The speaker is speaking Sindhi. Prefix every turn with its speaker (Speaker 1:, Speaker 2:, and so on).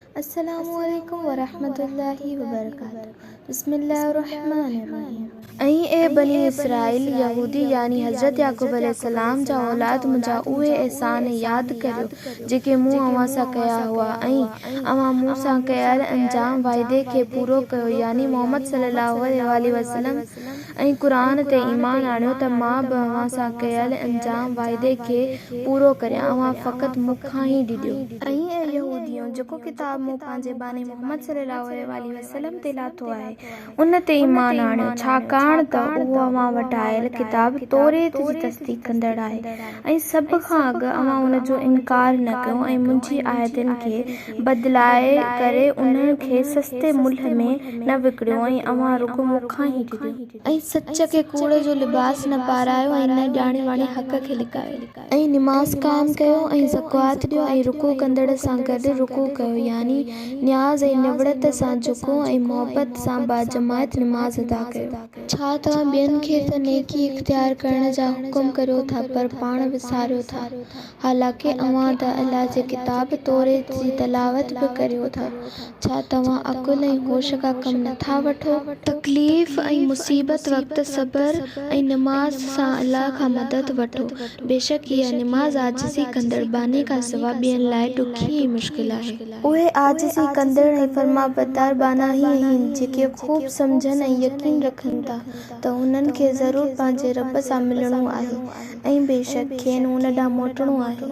Speaker 1: السلام عليڪم ورحمة الله وبرڪاته بسم الله الرحمٰن الرحيم ۽ اي بني اسرائيل يهودي يعني حضرت يعقوب عليه السلام جا اولاد منهنجا اهي احسان ياد ڪريو جيڪي مون اوهان سان ڪيا هئا ۽ اوهان مون سان ڪيل انجام واعدي کي پورو ڪيو يعني محمد صلي الله عليه واٰله وسلم ۽ قرآن تي ايمان آڻيو ته مان به اوهان سان ڪيل انجام وعدي کي پورو ڪريان، اوهان فقط مون کان ئي ڊڄو. ۽ اي يهوديؤ! جيڪو ڪتاب مون پنهنجي ٻانهي محمد صلي الله عليه واٰله وسلم تي لاٿو آهي، ان تي ايمان آڻيو، ڇاڪاڻ ته اهو اوهان وٽ آيل ڪتاب توريت جي تصديق ڪندڙ آهي. ۽ سڀ کان اڳ اوهان ان جو انڪار نه ڪيو ۽ منهنجي آيتن کي بدلائي ڪري انهن کي سستي ملهه ۾ نه وڪڻيو ۽ اوهان رڳو مون کان ئي ڊڄو. ۽ سچ کي ڪوڙ جو لباس نه پارايو ۽ نه ڄاڻي واڻي حق کي لڪايو. ۽ نماز قائم ڪيو ۽ زڪوات ڏيو ۽ رڪوع ڪندڙن سان گڏ رڪوع ڪيو يعني نياز ۽ نوڙت سان جهڪو ۽ محبت سان باجماعت نماز ادا ڪيو. ڇا توهان ٻين کي ته نيڪي اختيار ڪرڻ جا حڪم ڪريو ٿا پر پاڻ وساريو ٿا؟ حالانڪه اوهان ته الله جي ڪتاب توريت جي تلاوت به ڪريو ٿا. ڇا توهان عقل ۽ هوش کان ڪم نه ٿا وٺو؟ تڪليف ۽ مصيبت وقت صبر ۽ نماز سان الله کان مدد وٺو. بيشڪ اها، نماز، عاجزي ڪندڙ باني کان سواء ٻين لاء ڏکي ۽ مشڪل آهي. اهي عاجزي ڪندڙ ۽ فرمانبردار ٻانها ئي آهن، جيڪي خوب سمجهن ۽ يقين رکن ٿا ته انهن کي ضرور پنهنجي رب سان ملڻو آهي ۽ بيشڪ کين ان ڏانهن موٽڻو آهي.